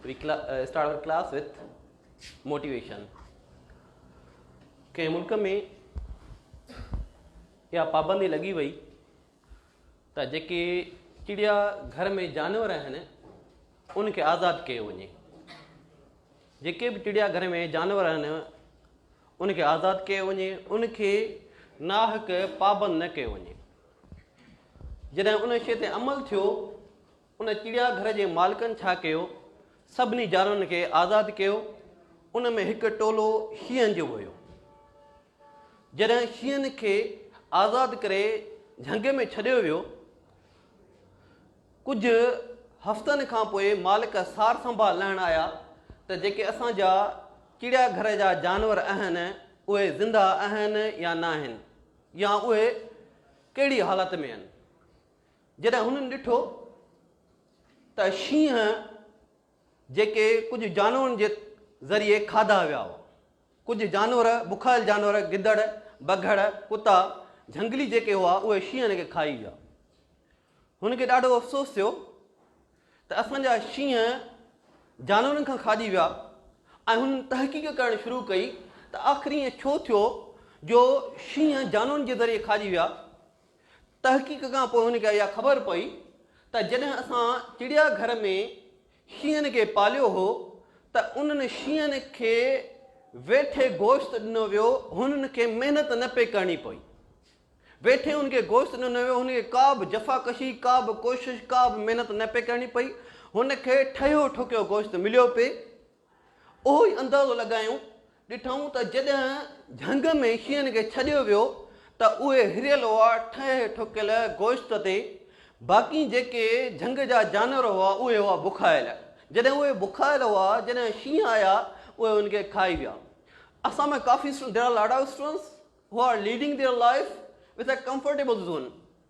We start our class with motivation. ڪنهن ملڪ ۾ اها پابندي لڳي وئي ته جيڪي چڙيا گهر ۾ جانور آهن ان کي آزاد ڪيو وڃي جيڪي به چڙيا گهر ۾ جانور آهن ان کي آزاد ڪيو وڃي ان کي ناحق پابند نه ڪيو وڃي جڏهن ان شي تي عمل ٿيو ان چڙيا گهر جي مالڪن ڇا ڪيو؟ سڀني جانورن کي آزاد ڪيو. ان ۾ هڪ ٽولو شينهن جو به هيو. جڏهن شينهن کي آزاد ڪري جهنگ ۾ ڇڏيو ويو. ڪجهه هفتن کان پوء مالڪ سار سنڀال لهڻ آيا ته جيڪي اسان جا چڙيا گهر جا جانور اهن اهي زنده اهن يا ناهن يا اهي ڪهڙي حالت ۾ اهن. جڏهن هنن ڏٺو ته شينهن جيڪي ڪجهه جانورن جي ذريعي کاڌا ويا هئا. ڪجهه جانور، بکايل جانور، گدڙ، بگهڙ، ڪتا، جهنگلي جيڪي هئا اهي شينهن کي کائي ويا. هنن کي ڏاڍو افسوس ٿيو ته اسان جا شينهن جانورن کان کاڄي ويا ۽ هنن تحقيق ڪرڻ شروع ڪئي ته آخر ائين ڇو ٿيو جو شينهن جانورن جي ذريعي کاڄي ويا. تحقيق کان پوء هن کي اها خبر پئي ته جڏهن اسان چڙيا گهر ۾ شينهن کي پاليو هو ته انهن شينهن کي ويٺي گوشت ڏنو ويو هنن کي محنت نه پئي ڪرڻي پئي ويٺي هن کي گوشت ڏنو ويو هن کي ڪا به جفاڪشي ڪا به ڪوشش ڪا به محنت نه پئي ڪرڻي پئي هن کي ٺهيو ٺوڪيو گوشت مليو پئي اهو ئي اندازو لڳايون، ڏٺائون ته جڏهن جهنگ ۾ شينهن کي ڇڏيو ويو ته اهي هريل هئا ٺهي ٺوڪيل گوشت تي، باقي جيڪي جهنگ جا جانور هئا اهي هئا بکايل، جڏهن اهي بکايل هئا جڏهن شينهن آيا اهي انهن کي کائي ويا. اسان ۾ ڪافي students There are a lot of students who are leading their life with a comfortable zone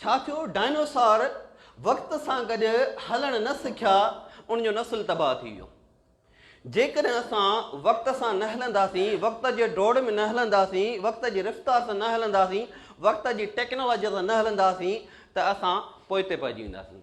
ڇا ٿيو، ڊائنوسار وقت سان گڏ هلڻ نه سکيا، ان جو نسل تباهه ٿي ويو. جيڪڏهن اسان وقت سان نه هلنداسين، وقت جي ڊوڙ ۾ نه هلنداسين، وقت جي رفتار سان نه هلنداسين، وقت جي ٽيڪنالاجيء سان نه هلنداسين ته اسان پوئتي پئجي وينداسين.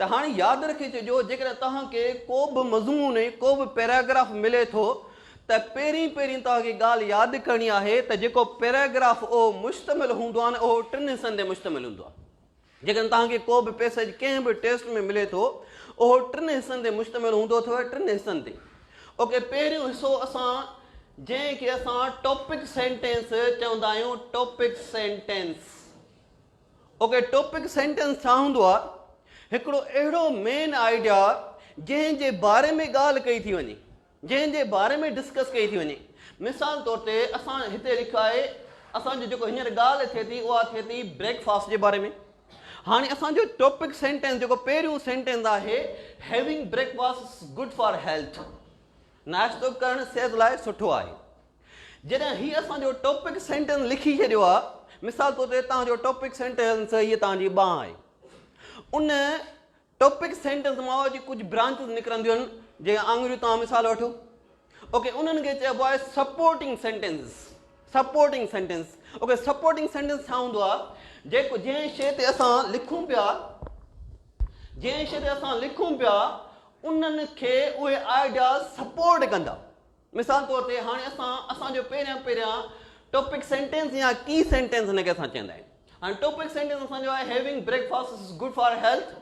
ته هاڻي ياد رکي ڇڏيو جيڪڏهن توهان کي ڪو به مضمون ۽ ڪو به پيراگراف ملي ٿو ته پهرين پهرين توهان کي ڳالهه ياد ڪرڻي آهي ته جيڪو پيراگراف اهو مشتمل هوندو آهي نه اهو ٽن حصن تي مشتمل هوندو آهي جيڪڏهن توهان کي ڪو به پيسيج ڪنهن به ٽيسٽ ۾ ملي ٿو اهو ٽن حصن تي مشتمل هوندو اٿو ٽن حصن تي اوڪي پهريون حصو اسان جنهن کي اسان ٽاپڪ سينٽينس چوندا آهيون topic sentence okay topic sentence ڇا هوندو آهي؟ هڪڙو اهڙو مين آئيڊيا جنهن جي باري ۾ ڳالهه ڪئي ٿي وڃي، جنهن جي باري ۾ ڊسڪس ڪئي ٿي وڃي. مثال طور تي اسان هتي لکيو آهي اسان جو جيڪو هينئر ڳالهه ٿئي ٿي اها ٿئي ٿي بريڪ فاسٽ جي باري ۾. هاڻي اسان جو ٽاپڪ سينٽنس جيڪو پهريون سينٽنس آهي Having breakfast is good for health ناشتو ڪرڻ صحت لاء سٺو آهي. جڏهن هي اسان جو ٽاپڪ سينٽينس لکي ڇڏيو آهي، مثال طور تي توهان جو ٽاپڪ سينٽينس هيء توهان جي ٻانهن آهي. ان ٽاپڪ سينٽينس مان جي ڪجهه برانچز نڪرنديون آهن، جيڪي آڱريون توهان مثال وٺو. اوڪي انهن کي چئبو آهي supporting sentence. Supporting sentence. Okay supporting sentence ڇا هوندو آهي؟ جيڪو جنهن شيء تي اسان لکون پيا جنهن شيء تي اسان لکون پيا انهن کي اهي آئيڊياز سپورٽ ڪندا. مثال طور تي هاڻي اسان اسان جو پهريان پهريان ٽاپڪ سينٽينس يا ڪي سينٽينس هن کي اسان چوندا آهيون هاڻي ٽاپڪ سينٽينس اسان جو آهي having breakfast is good for health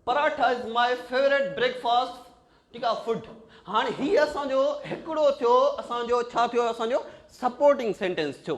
paratha is my favourite breakfast ٺيڪ آهي فوڊ هاڻي هي اسان جو هڪڙو ٿيو اسان جو ڇا ٿيو اسان جو سپورٽنگ سينٽينس ٿيو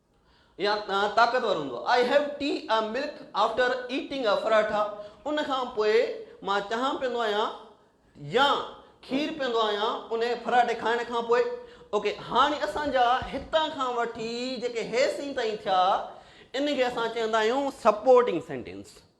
يا طاقتور هوندو آهي. I have tea a milk after eating a پراٺا ان کان پوء مان چانهه پيئندو آهيان يا کير پيئندو آهيان انهي پراٺي کائڻ کان پوء. اوڪي هاڻي اسان جا هتان کان وٺي جيڪي هيسين تائين ٿيا انهن کي اسان چوندا آهيون سپورٽنگ سينٽينس.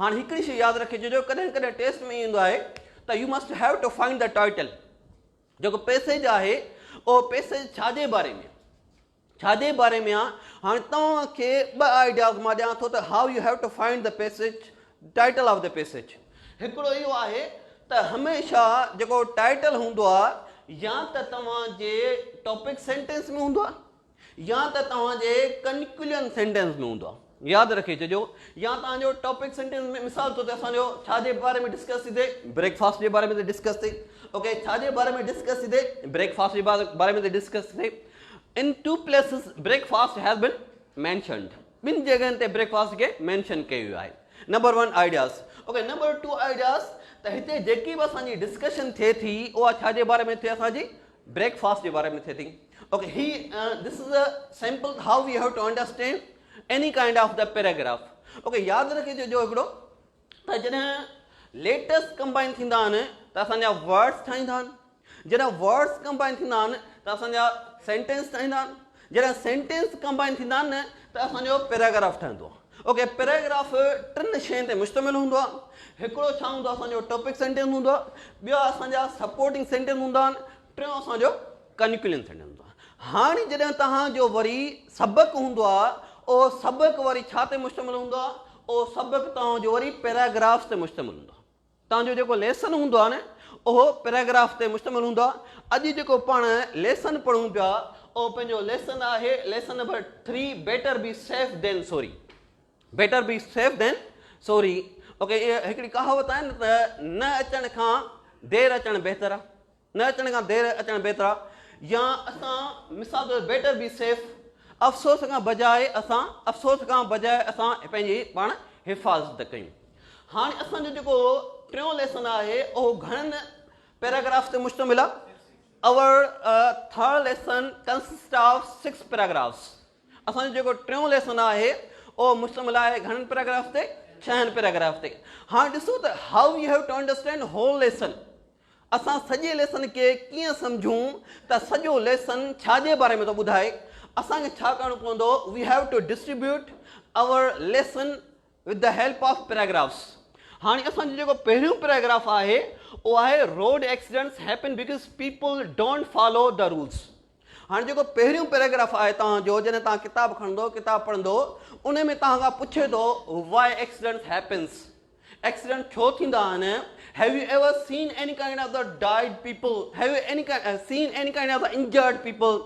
هاڻ هڪڙي شيء ياد رکجي جو ڪڏهن ڪڏهن ٽيسٽ ۾ ايندو آهي ته you must have to find the title جيڪو پيسيج آهي اهو پيسيج ڇا جي باري ۾ ڇا جي باري ۾ آ هاڻي توهان کي ٻه آئيڊياز مان ڏيان ٿو ته how you have to find the passage title of the passage هڪڙو اهو آهي ته هميشه جيڪو ٽائيٽل هوندو آ يا ته توهان جي ٽاپڪ سينٽينس ۾ هوندو آ يا ته توهان جي ڪنڪليون سينٽينس ۾ هوندو آهي. ياد رکي ڇڏيو يا توهان جو ٽاپڪ سينٽينس ۾ مثال طور تي اسان جو ڇا جي باري ۾ ڊسڪس ٿي ٿئي بريڪ فاسٽ جي باري ۾ ٿي ڊسڪس ٿئي اوڪي ڇا جي باري ۾ ڊسڪس ٿي ٿئي بريڪ فاسٽ جي باري ۾ ٿي ڊسڪس ٿي ٿئي in two places breakfast has been mentioned ٻن جڳهن تي بريڪ فاسٽ کي مينشن ڪيو ويو آهي number one ideas okay number two ideas ته هتي جيڪي به اسان جي ڊسڪشن ٿئي ٿي اها ڇا جي باري ۾ ٿئي اسان جي بريڪ فاسٽ جي باري ۾ ٿئي ٿي اوڪي هي this is a sample how we have to understand any kind of the paragraph okay ياد رکجو جو هڪڙو ته جڏهن ليٽرس ڪمبائن ٿيندا آهن ته اسانجا ورڊس ٺاهيندا آهن جڏهن ورڊس ڪمبائن ٿيندا آهن ته اسانجا سينٽينس ٺاهيندا آهن جڏهن سينٽينس ڪمبائن ٿيندا آهن نه ته اسان جو پيراگراف ٺهندو آهي. اوڪي پيراگراف ٽن شين تي مشتمل هوندو آهي. هڪڙو ڇا هوندو آهي اسان جو ٽاپڪ سينٽينس هوندو آهي، ٻيا اسان جا سپورٽنگ سينٽينس هوندا آهن، ٽيون اسان جو ڪنڪلوجن سينٽينس هوندو آهي. هاڻي جڏهن توهان جو وري سبق هوندو آهي اهو سبق وري ڇا تي مشتمل هوندو آهي اهو سبق توهان جو وري پيراگرافز تي مشتمل هوندو آهي. تان جو جيڪو ليسن هوندو آهي نه اهو پيراگراف تي مشتمل هوندو آهي اڄ جيڪو پاڻ ليسن پڙهون پيا اهو پنهنجو ليسن آهي lesson number three better be safe than sorry better be safe than sorry okay هڪڙي ڪهاوت آهي نه ته نه اچڻ کان دير اچڻ بهتر آهي نه اچڻ کان دير اچڻ بهترآ يا اسان مثال طور بيٽر بي سيف افسوس کان بجاء اسان افسوس کان بجاء اسان پنهنجي پاڻ حفاظت ڪيون هاڻي اسان جو جيڪو ٽيون ليسن آهي اهو گهڻن پيراگراف تي مشتمل آهي our third lesson consist of six paragraphs اسان جو جيڪو ٽيون ليسن آهي اهو مشتمل آهي گهڻن پيراگراف تي ڇهن پيراگراف تي هاڻي ڏسو ته how you have to understand whole lesson اسان سڄي ليسن کي ڪيئن سمجهون ته سڄو ليسن ڇا جي باري ۾ ٿو ٻڌائي؟ اسان کي ڇا ڪرڻو پوندو؟ We have to distribute our lesson with the help of paragraphs هاڻي اسان جو جيڪو پهريون پيراگراف آهي اهو آهي road accidents happen because people don't follow the rules. هاڻي جيڪو پهريون پيراگراف آهي توهان جو جڏهن توهان ڪتاب کڻندو ڪتاب پڙهندو ان ۾ توهان کان پڇي ٿو وائي ايڪسيڊنٽس هيپنس ايڪسيڊنٽ ڇو ٿيندا آهن have you ever seen any kind of the died people have you any seen any kind of the injured people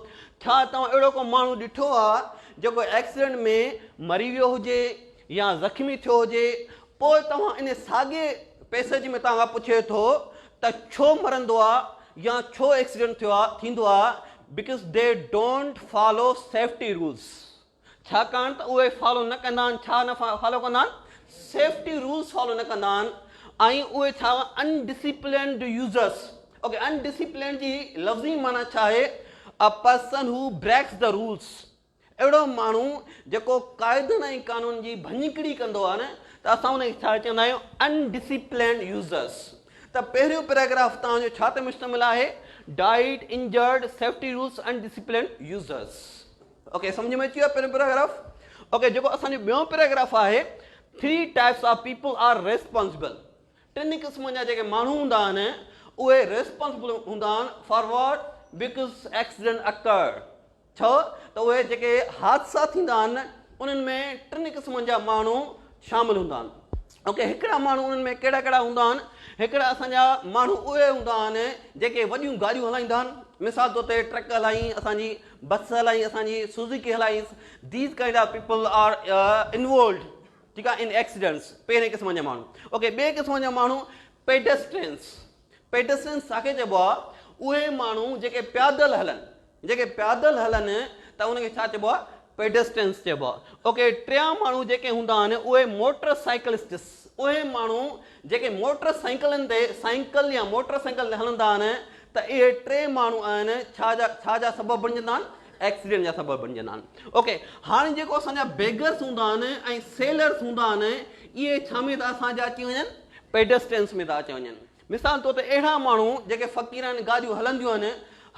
ڇا توهان اهڙو کو ماڻهو ڏٺو آهي جيڪو ايڪسيڊنٽ ۾ مري ويو هجي يا زخمي ٿيو هجي پوء توهان ان ساڳئي پئسيج ۾ توهان کان پڇي ٿو ته ڇو مرندو آ يا ڇو ايڪسيڊنٽ ٿيو آ ٿيندو آ because they don't follow safety rules ڇاڪاڻ ته اهي فالو نه ڪندا آهن ڇا نه فالو ڪندا آهن سيفٽي رولز فالو نه ڪندا آهن ۽ اهي ڇا undisciplined users okay undisciplined جي لفظي معنيٰ ڇا آهي a person who breaks the rules اهڙو ماڻهو جيڪو قاعدن ۽ قانون جي ڀڃڪڙي ڪندو آهي نه ته اسان ان کي ڇا چوندا آهيون ان ڊسيپلنڊ يوزرس ته پهريون پيراگراف توهان جو ڇا تي مشتمل آهي ڊائيڊ انجرڊ سيفٽي رولس ان ڊسيپلنڊ يوزرس اوڪي سمجھ ۾ اچي ويو پهريون پيراگراف اوڪي جيڪو اسان جو ٻيون پيراگراف آهي three types of people are responsible ٽن قسمن جا جيڪي ماڻهو هوندا آهن اهي ريسپانسبل هوندا آهن فارورڊ بڪس ايڪسيڊنٽ اڪر ڇو ته اهي جيڪي حادثا ٿيندا آهن انهن ۾ ٽن قسمن جا ماڻهو شامل هوندا آهن اوڪي هڪڙا ماڻهو انهن ۾ ڪهڙا ڪهڙا هوندا آهن هڪڙا اسان جا ماڻهو اهي هوندا آهن جيڪي وڏيون گاڏيون هلائيندا آهن مثال طور تي ٽرڪ هلائين اسان جي بس هلائين اسان جي سوزيڪي هلائين these kind of people are involved ٺيڪ آهي ان ايڪسيڊنٽس پهرين قسم جا ماڻهو اوڪي ٻئي قسم جا ماڻهو پيڊسٽرينس پيڊسٽرين ساکي چئبو آهي اهي ماڻهو جيڪي پيادل هلن جيڪي پيادل هلن ته ان کي ڇا چئبو آهي پيڊسٽرينس چئبو آهي اوڪي ٽيان ماڻهو جيڪي هوندا آهن اهي موٽر سائيڪلسٽس اهي ماڻهو جيڪي موٽر سائيڪلن تي سائيڪل يا موٽر سائيڪل تي هلندا آهن ته اهي ٽي ماڻهو آهن ڇا جا ڇا جا سبب بڻجندا آهن ايڪسيڊنٽ جا سبب بڻجندا آهن اوڪي هاڻي جيڪو اسان جا بيگرس هوندا آهن ۽ سيلرس هوندا آهن اهي ڇا ۾ ته اسان جا اچي وڃن پيڊسٽرينس ۾ ٿا اچي وڃن. مثال طور تي اهڙا ماڻهو جيڪي فقيرانه گاڏيون هلنديون آهن،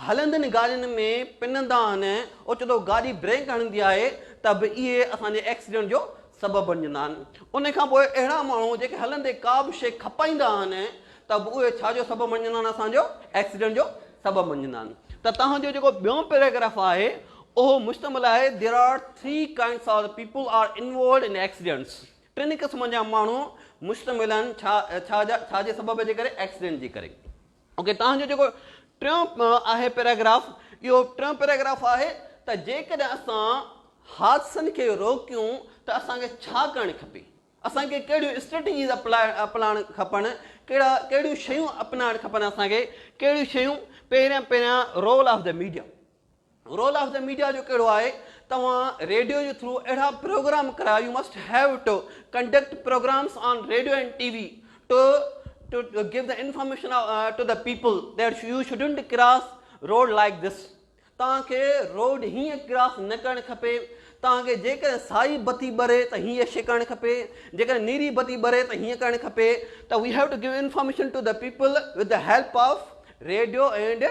هلندين گاڏين ۾ پنندا آهن، اوچتو گاڏي بريڪ هڻندي آهي ته به اهي اسان جي ايڪسيڊنٽ جو سبب بڻجندا آهن. ان کان پوء اهڙا ماڻهو جيڪي هلندي ڪا به شيء کپائيندا آهن ته به اهي ڇا جو سبب بڻجندا آهن اسان جو ايڪسيڊنٽ جو سبب بڻجندا آهن. ته توهان جو جيڪو ٻيون پيراگراف آهي اهو مشتمل آهي There are three kinds of people are involved in accidents ٽن قسمن جا ماڻهو مشتمل آهن ڇا ڇا جا ڇا جي سبب جي ڪري ايڪسيڊنٽ جي ڪري اوڪي توهان جو جيڪو ٽيون آهي پيراگراف اهو ٽيون پيراگراف آهي ته جيڪڏهن اسان حادثن کي روڪيون ته اسان کي ڇا ڪرڻ کپي اسان کي ڪهڙيون اسٽريٽجيز اپلائڻ کپن ڪهڙا ڪهڙيون شيون اپنائڻ کپن اسان کي ڪهڙيون شيون پهريان پهريان role of the media role of the media جو ڪهڙو آهي توهان ريڊيو جي ٿرو اهڙا پروگرام ڪرايو you must have to conduct programmes on radio and T V to to give the information to the people that you shouldn't cross road like this توهان کي road هيئن ڪراس نه ڪرڻ کپي توهان کي جيڪڏهن سائي بتي ٻري ته هيئن شي ڪرڻ کپي جيڪڏهن نيري بتي ٻري ته هيئن ڪرڻ کپي ته we have to give information to the people with the help of radio and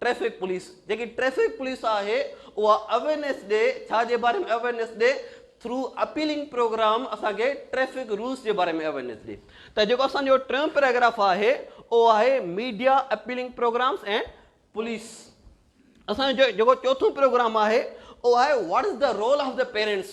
traffic police جيڪي ٽريفڪ پوليس آهي اها اويرنيس ڏي ڇا جي باري ۾ اويرنيس ڏي ٿرو اپيلنگ پروگرام اسان کي ٽريفڪ رولس جي باري ۾ اويرنيس ڏي ته جيڪو اسان جو ٽيون پيراگراف آهي اهو آهي media appealing programmes and police اسان جو جيڪو چوٿون پروگرام آهي اهو آهي what is the role of the parents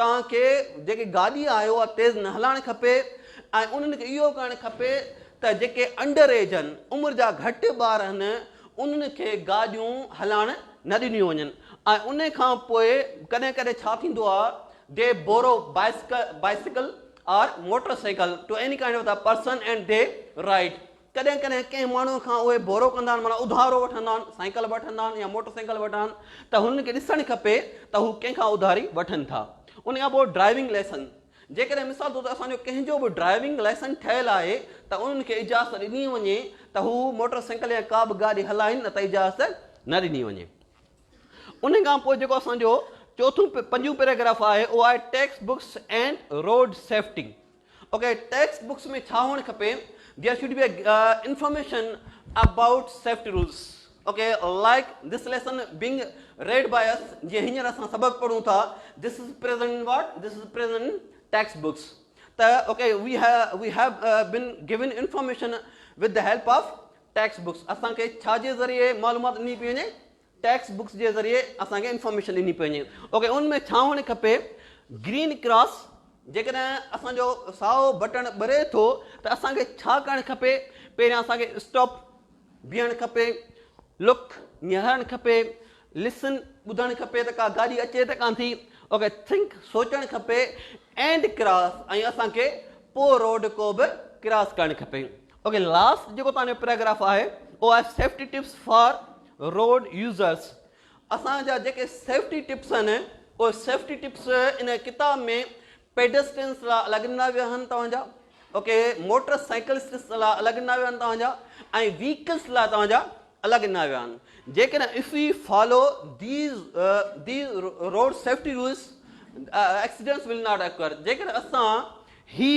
توهان کي جيڪي گاڏي آهي اها تيز نه هلائڻ کپي ۽ انهن کي اهو ڪرڻ کپي ته جيڪي انڊر ايج هن، عمر جا گهٽ ٻار هن، انهن کي گاڏيون هلائڻ نه ڏنيون وڃن ۽ ان کان پوء ڪڏهن ڪڏهن ڇا ٿيندو آهي they borrow bicycle or motor cycle to any kind of the person and they ride ڪڏهن ڪڏهن ڪنهن ماڻهوء کان اهي ڀورو ڪندا آهن، معنيٰ اڌارو وٺندا آهن، سائيڪل به وٺندا آهن يا موٽر سائيڪل وٺندا آهن ته هنن کي ڏسڻ کپي ته هو ڪنهن کان اڌاري وٺن ٿا. ان کان پوء ڊرائيونگ لائسنس، جيڪڏهن مثال طور تي اسان جو ڪنهن جو به ڊرائيونگ لائسنس ٺهيل آهي ته انهن کي اجازت ڏني وڃي ته هو موٽر سائيڪل يا ڪا به گاڏي هلائين نه ته اجازت نه ڏني وڃي. ان کان پوء جيڪو اسان جو چوٿون پنجون پيراگراف آهي اهو آهي text box and road safety. Okay text box ۾ ڇا هئڻ کپي there should be information about safety rules okay like this lesson being read by us جي هينئر اسان سبق پڙهون ٿا this is present what this is present text box ته okay we we have been given information with the help of text box اسان کي ڇا جي ذريعي معلومات ڏني پئي وڃي ٽيڪسٽ بڪس جي ذريعي اسان کي انفارميشن ڏني پئي وڃي اوڪي ان ۾ ڇا هئڻ کپي گرين ڪراس جيڪڏهن اسان جو سائو بٽڻ ٻري ٿو ته اسان کي ڇا ڪرڻ کپي پهريان اسان کي اسٽاپ بيهڻ کپي لڪ نهارڻ کپي لسن ٻڌڻ کپي ته ڪا گاڏي اچي ته ڪان ٿي اوڪي ٿنڪ سوچڻ کپي اينڊ ڪراس ۽ اسان کي پو روڊ ڪو به ڪراس ڪرڻ کپي اوڪي لاسٽ جيڪو توهان جو پيراگراف آهي اهو آهي safety tips for road users اسان جا جيڪي سيفٽي ٽپس آهن اهي سيفٽي ٽپس ان ڪتاب ۾ پيڊسٽرينس لاء الڳ ڏنا ويا آهن توهان جا اوڪي موٽر سائيڪلسٽس لاء الڳ ڏنا ويا آهن توهان جا ۽ ويهڪلس لاء توهان جا الا ڳنا ويا آهن جيڪڏهن if we follow these these road safety rules accidents will not occur جيڪڏهن اسان هي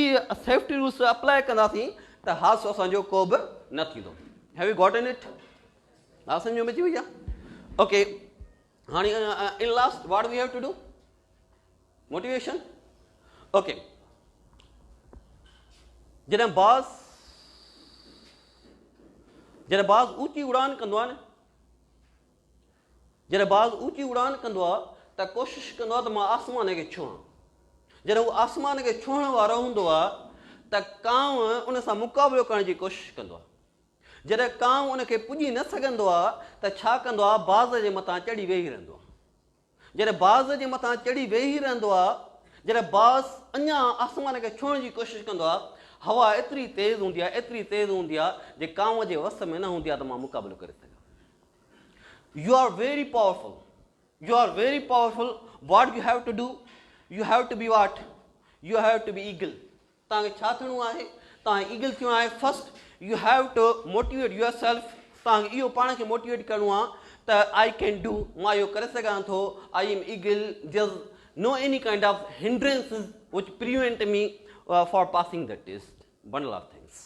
سيفٽي رولس اپلاء ڪنداسين ته حادثو اسان جو ڪو به نه ٿيندو هيو يو گاٽن اٽ ها سمجھ ۾ اچي وئي آهي اوڪي هاڻي in last what we have to do motivation okay جڏهن باز جڏهن باز اوچي اڙان ڪندو آهي نه جڏهن باز اوچي اڙان ڪندو آهي ته ڪوشش ڪندو آهي ته مان آسمان کي ڇهان جڏهن هو آسمان کي ڇهڻ وارو هوندو آهي ته ڪانو ان سان مقابلو ڪرڻ جي ڪوشش ڪندو آهي جڏهن ڪانء ان کي پڄي نه سگهندو آهي ته ڇا ڪندو آهي باز جي مٿان چڙهي ويهي رهندو آهي. جڏهن باز جي مٿان چڙهي ويهي رهندو آهي، جڏهن باز اڃا آسمان کي ڇهڻ جي ڪوشش ڪندو آهي، هوا ايتري تيز هوندي آهي، ايتري تيز هوندي آهي جي ڪانء جي وس ۾ نه هوندي آهي ته مان مقابلو ڪري سگهان. You are very powerful, you are very powerful, what you have to do, you have to be what, you have to be eagle, توهان کي ڇا ٿيڻو آهي؟ توهان کي ايگل ٿيڻو آهي first you have to motivate yourself توهان کي اهو پاڻ کي موٽيويٽ ڪرڻو آهي ته آئي ڪين ڊو مان اهو ڪري سگهان ٿو I am eagle there's no any kind of hindrances which prevent me for passing the test bundle of thanks